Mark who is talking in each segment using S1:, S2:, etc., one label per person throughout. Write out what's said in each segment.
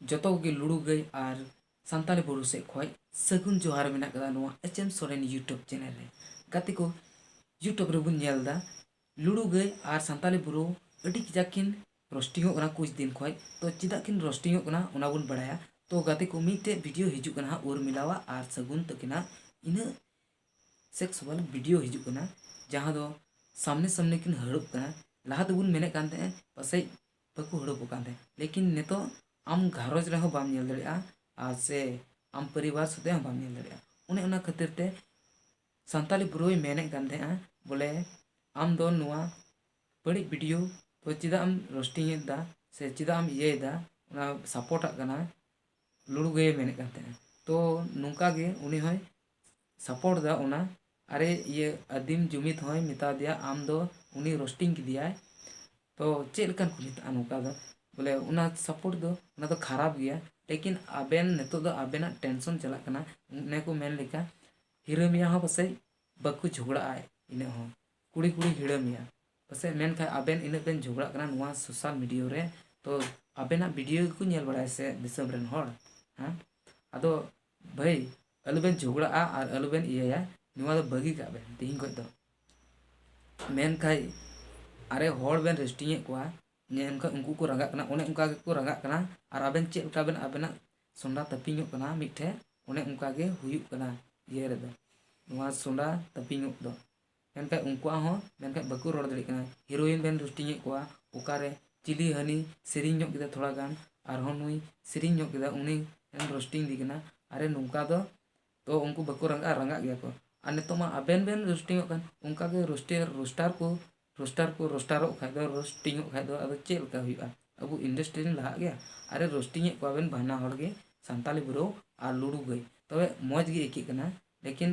S1: ᱡᱚᱛᱚ ᱠᱚᱜᱮ ᱞᱩᱲᱩ ᱜᱟᱹᱭ ᱟᱨ ᱥᱟᱱᱛᱟᱲᱤ ᱵᱩᱨᱩ ᱥᱮᱫ ᱠᱷᱚᱱ ᱥᱟᱹᱜᱩᱱ ᱡᱚᱦᱟᱨ ᱢᱮᱱᱟᱜ ᱠᱟᱫᱟ ᱱᱚᱣᱟ H M Soren YouTube channel ᱨᱮ ᱜᱟᱛᱮ ᱠᱚ ᱤᱭᱩᱴᱩᱵᱽ ᱨᱮᱵᱚᱱ ᱧᱮᱞ ᱮᱫᱟ ᱞᱩᱲᱩ ᱜᱟᱹᱭ ᱟᱨ ᱥᱟᱱᱛᱟᱲᱤ ᱵᱩᱨᱩ ᱟᱹᱰᱤ ᱠᱟᱡᱟᱠ ᱠᱤᱱ ᱨᱳᱥᱴᱤᱝᱚᱜ ᱠᱟᱱᱟ ᱠᱩᱪ ᱫᱤᱱ ᱠᱷᱚᱱ ᱛᱚ ᱪᱮᱫᱟᱜ ᱠᱤᱱ ᱨᱳᱥᱴᱤᱝᱚᱜ ᱠᱟᱱᱟ ᱚᱱᱟ ᱵᱚᱱ ᱵᱟᱲᱟᱭᱟ ᱛᱚ ᱜᱟᱛᱮ ᱠᱚ ᱢᱤᱫᱴᱮᱡ ᱵᱷᱤᱰᱤᱭᱳ ᱦᱤᱡᱩᱜ ᱠᱟᱱᱟ ᱦᱟᱸᱜ ᱩᱨᱢᱤᱞᱟᱣᱟᱜ ᱟᱨ ᱥᱟᱹᱜᱩᱱ ᱛᱟᱹᱠᱤᱱᱟᱜ ᱤᱱᱟᱹ ᱥᱮᱠᱥᱩᱣᱟᱞ ᱵᱷᱤᱰᱤᱭᱳ ᱦᱤᱡᱩᱜ ᱠᱟᱱᱟ ᱡᱟᱦᱟᱸ ᱫᱚ ᱥᱟᱢᱱᱮ ᱥᱟᱢᱱᱮ ᱠᱤᱱ ᱦᱟᱹᱲᱩᱵ ᱠᱟᱱᱟ ᱞᱟᱦᱟ ᱛᱮᱵᱚᱱ ᱢᱮᱱᱮᱫ ᱠᱟᱱ ᱛᱟᱦᱮᱸᱫ ᱯᱟᱥᱮᱡ ᱵᱟᱠᱚ ᱦᱟᱹᱲᱩᱵᱚᱜ ᱠᱟᱱ ᱛᱟᱦᱮᱸᱫ ᱞᱮᱠᱤᱱ ᱱᱤᱛᱚᱜ ᱟᱢ ᱜᱷᱟᱨᱚᱸᱡᱽ ᱨᱮᱦᱚᱸ ᱵᱟᱢ ᱧᱮᱞ ᱫᱟᱲᱮᱭᱟᱜᱼᱟ ᱟᱨ ᱥᱮ ᱟᱢ ᱯᱚᱨᱤᱵᱟᱨ ᱥᱟᱛᱮᱜ ᱦᱚᱸ ᱵᱟᱢ ᱧᱮᱞ ᱫᱟᱲᱮᱭᱟᱜᱼᱟ ᱚᱱᱮ ᱚᱱᱟ ᱠᱷᱟᱹᱛᱤᱨ ᱛᱮ ᱥᱟᱱᱛᱟᱲᱤ ᱵᱨᱳᱭ ᱢᱮᱱᱮᱫ ᱠᱟᱱ ᱛᱟᱦᱮᱸᱜᱼᱟ ᱵᱚᱞᱮ ᱟᱢ ᱫᱚ ᱱᱚᱣᱟ ᱵᱟᱹᱲᱤᱡ ᱵᱷᱤᱰᱤᱭᱳ ᱫᱚ ᱪᱮᱫᱟᱜ ᱮᱢ ᱨᱳᱥᱴᱤᱝ ᱮᱫᱟ ᱥᱮ ᱪᱮᱫᱟᱜ ᱮᱢ ᱤᱭᱟᱹᱭᱮᱫᱟ ᱚᱱᱟ ᱥᱟᱯᱳᱨᱴ ᱟᱜ ᱠᱟᱱᱟ ᱞᱩᱲᱩ ᱜᱟᱹᱭᱮ ᱢᱮᱱᱮᱫ ᱠᱟᱱ ᱛᱟᱦᱮᱸᱜᱼᱟ ᱛᱚ ᱱᱚᱝᱠᱟᱜᱮ ᱩᱱᱤ ᱦᱚᱸᱭ ᱥᱟᱯᱚᱨᱴ ᱫᱟ ᱚᱱᱟ᱾ ᱟᱨᱮ ᱤᱭᱟᱹ ᱟᱫᱤᱢ ᱡᱩᱢᱤᱫ ᱦᱚᱸᱭ ᱢᱮᱛᱟᱣᱫᱮᱭᱟ ᱟᱢ ᱫᱚ ᱩᱱᱤ ᱨᱚᱥᱴᱤᱝ ᱠᱮᱫᱮᱭᱟᱭ ᱛᱚ ᱪᱮᱫ ᱞᱮᱠᱟᱱ ᱠᱚ ᱢᱮᱛᱟᱜᱼᱟ ᱱᱚᱝᱠᱟ ᱫᱚ ᱵᱚᱞᱮ ᱚᱱᱟ ᱥᱟᱯᱚᱨᱴ ᱫᱚ ᱚᱱᱟ ᱫᱚ ᱠᱷᱟᱨᱟᱯ ᱜᱮᱭᱟ ᱞᱮᱠᱤᱱ ᱟᱵᱮᱱ ᱱᱤᱛᱚᱜ ᱫᱚ ᱟᱵᱮᱱᱟᱜ ᱴᱮᱱᱥᱚᱱ ᱪᱟᱞᱟᱜ ᱠᱟᱱᱟ ᱚᱱᱮ ᱠᱚ ᱢᱮᱱ ᱞᱮᱠᱟ ᱦᱤᱨᱟᱹ ᱢᱮᱭᱟ ᱦᱚᱸ ᱯᱟᱥᱮᱡ ᱵᱟᱠᱚ ᱡᱷᱚᱜᱽᱲᱟᱜᱼᱟ ᱤᱱᱟᱹᱜ ᱦᱚᱸ ᱠᱩᱲᱤ ᱠᱩᱲᱤ ᱦᱤᱲᱟᱹ ᱢᱮᱭᱟ ᱯᱟᱥᱮᱡ ᱢᱮᱱᱠᱷᱟᱡ ᱟᱵᱮᱱ ᱤᱱᱟᱹᱜ ᱵᱮᱱ ᱡᱷᱚᱜᱽᱲᱟᱜ ᱠᱟᱱᱟ ᱱᱚᱣᱟ ᱥᱳᱥᱟᱞ ᱢᱤᱰᱤᱭᱟ ᱨᱮ ᱛᱚ ᱟᱵᱮᱱᱟᱜ ᱵᱷᱤᱰᱤᱭᱳ ᱜᱮᱠᱚ ᱧᱮᱞ ᱵᱟᱲᱟᱭᱟ ᱥᱮ ᱫᱤᱥᱚᱢ ᱨᱮᱱ ᱦᱚᱲ ᱦᱮᱸ ᱟᱫᱚ ᱵᱷᱟᱹᱭ ᱟᱞᱚᱵᱮᱱ ᱡᱷᱚᱜᱽᱲᱟᱜᱼᱟ ᱟᱨ ᱟᱞᱚᱵᱮᱱ ᱤᱭᱟᱹᱭᱟ ᱱᱚᱣᱟ ᱫᱚ ᱵᱟᱹᱜᱤ ᱠᱟᱜ ᱵᱮᱱ ᱛᱤᱦᱤᱧ ᱠᱷᱚᱱ ᱫᱚ ᱢᱮᱱᱠᱷᱟᱱ ᱟᱨᱮ ᱦᱚᱲ ᱵᱮᱱ ᱨᱮᱥᱴᱤᱝ ᱮᱫ ᱠᱚᱣᱟ ᱢᱮᱱᱠᱷᱟᱱ ᱩᱱᱠᱩ ᱠᱚ ᱨᱟᱸᱜᱟᱜ ᱠᱟᱱᱟ ᱚᱱᱮ ᱚᱱᱠᱟ ᱜᱮᱠᱚ ᱨᱟᱸᱜᱟᱜ ᱠᱟᱱᱟ ᱟᱨ ᱟᱵᱮᱱ ᱪᱮᱫ ᱞᱮᱠᱟ ᱵᱮᱱ ᱟᱵᱮᱱᱟᱜ ᱥᱚᱸᱰᱟ ᱛᱟᱹᱯᱤᱧᱚᱜ ᱠᱟᱱᱟ ᱢᱤᱫ ᱴᱷᱮᱱ ᱚᱱᱮ ᱚᱱᱠᱟ ᱜᱮ ᱦᱩᱭᱩᱜ ᱠᱟᱱᱟ ᱤᱭᱟᱹ ᱨᱮᱫᱚ ᱱᱚᱣᱟ ᱥᱚᱸᱰᱟ ᱛᱟᱹᱯᱤᱧᱚᱜ ᱫᱚ ᱢᱮᱱᱠᱷᱟᱱ ᱩᱱᱠᱩᱣᱟᱜ ᱦᱚᱸ ᱢᱮᱱᱠᱷᱟᱱ ᱵᱟᱠᱚ ᱨᱚᱲ ᱫᱟᱲᱮᱭᱟᱜ ᱠᱟᱱᱟ ᱦᱤᱨᱳᱭᱤᱱ ᱵᱮᱱ ᱨᱩᱥᱴᱤᱝ ᱮᱫ ᱠᱚᱣᱟ ᱚᱠᱟᱨᱮ ᱪᱤᱞᱤ ᱦᱟᱹᱱᱤ ᱥᱮᱨᱮᱧ ᱧᱚᱜ ᱠᱮᱫᱟ ᱛᱷᱚᱲᱟ ᱜᱟᱱ ᱟᱨᱦᱚᱸ ᱱᱩᱭ ᱥᱮᱨᱮᱧ ᱧᱚᱜ ᱠᱮᱫᱟ ᱩᱱᱤ ᱮᱢ ᱨᱳᱥᱴᱤᱝ ᱮᱫᱮ ᱠᱟᱱᱟ ᱟᱨᱮ ᱱᱚᱝᱠᱟ ᱫᱚ ᱛᱚ ᱩᱱᱠᱩ ᱵᱟᱠᱚ ᱨᱟᱸᱜᱟᱜᱼᱟ ᱨᱟᱸᱜᱟᱜ ᱜᱮᱭᱟ ᱠᱚ ᱟᱨ ᱱᱤᱛᱚᱜ ᱢᱟ ᱟᱵᱮᱱ ᱵᱮᱱ ᱨᱳᱥᱴᱤᱝ ᱚᱜ ᱠᱟᱱ ᱚᱱᱠᱟ ᱜᱮ ᱨᱳᱥᱴᱤᱝ ᱨᱳᱥᱴᱟᱨ ᱠᱚ ᱨᱳᱥᱴᱟᱨ ᱠᱚ ᱨᱳᱥᱴᱟᱨᱚᱜ ᱠᱷᱟᱱ ᱫᱚ ᱨᱳᱥᱴᱤᱝ ᱚᱜ ᱠᱷᱟᱱ ᱫᱚ ᱟᱫᱚ ᱪᱮᱫ ᱞᱮᱠᱟ ᱦᱩᱭᱩᱜᱼᱟ ᱟᱵᱚ ᱤᱱᱰᱟᱥᱴᱨᱤ ᱨᱮ ᱞᱟᱦᱟᱜ ᱜᱮᱭᱟ ᱟᱨᱮ ᱨᱳᱥᱴᱤᱝ ᱮᱫ ᱠᱚᱣᱟ ᱵᱮᱱ ᱵᱟᱱᱟ ᱦᱚᱲ ᱜᱮ ᱥᱟᱱᱛᱟᱲᱤ ᱵᱨᱳ ᱟᱨ ᱞᱩᱰᱩ ᱵᱷᱟᱹᱭ ᱛᱚᱵᱮ ᱢᱚᱡᱽ ᱜᱮ ᱟᱹᱭᱠᱟᱹᱜ ᱠᱟᱱᱟ ᱞᱮᱠᱤᱱ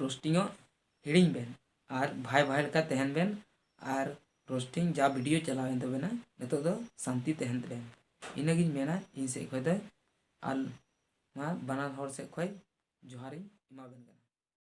S1: ᱨᱳᱥᱴᱤᱝ ᱚᱜ ᱦᱤᱲᱤᱧ ᱵᱮᱱ ᱟᱨ ᱵᱷᱟᱭ ᱵᱷᱟᱭ ᱞᱮᱠᱟ ᱛᱟᱦᱮᱱ ᱵᱮᱱ ᱟᱨ ᱨᱳᱥᱴᱤᱝ ᱡᱟ ᱵᱷᱤᱰᱤᱭᱳ ᱪᱟᱞᱟᱣᱮᱱ ᱛᱟᱵᱮᱱᱟ ᱱᱤᱛᱚᱜ ᱫᱚ ᱥᱟᱱᱛᱤ ᱛᱟᱦᱮᱱ ᱵᱮᱱ ᱤᱱᱟᱹᱜᱤᱧ ᱢᱮᱱᱟ ᱤᱧ ᱥᱮᱫ ᱠᱷᱚᱱ ᱫᱚ ᱟᱨ ᱱᱚᱣᱟ ᱵᱟᱱᱟ ᱦᱚᱲ ᱥᱮᱫ ᱠᱷᱚᱱ ᱡᱚᱦᱟᱨᱤᱧ ᱮᱢᱟᱵᱮᱱ ᱠᱟᱱᱟ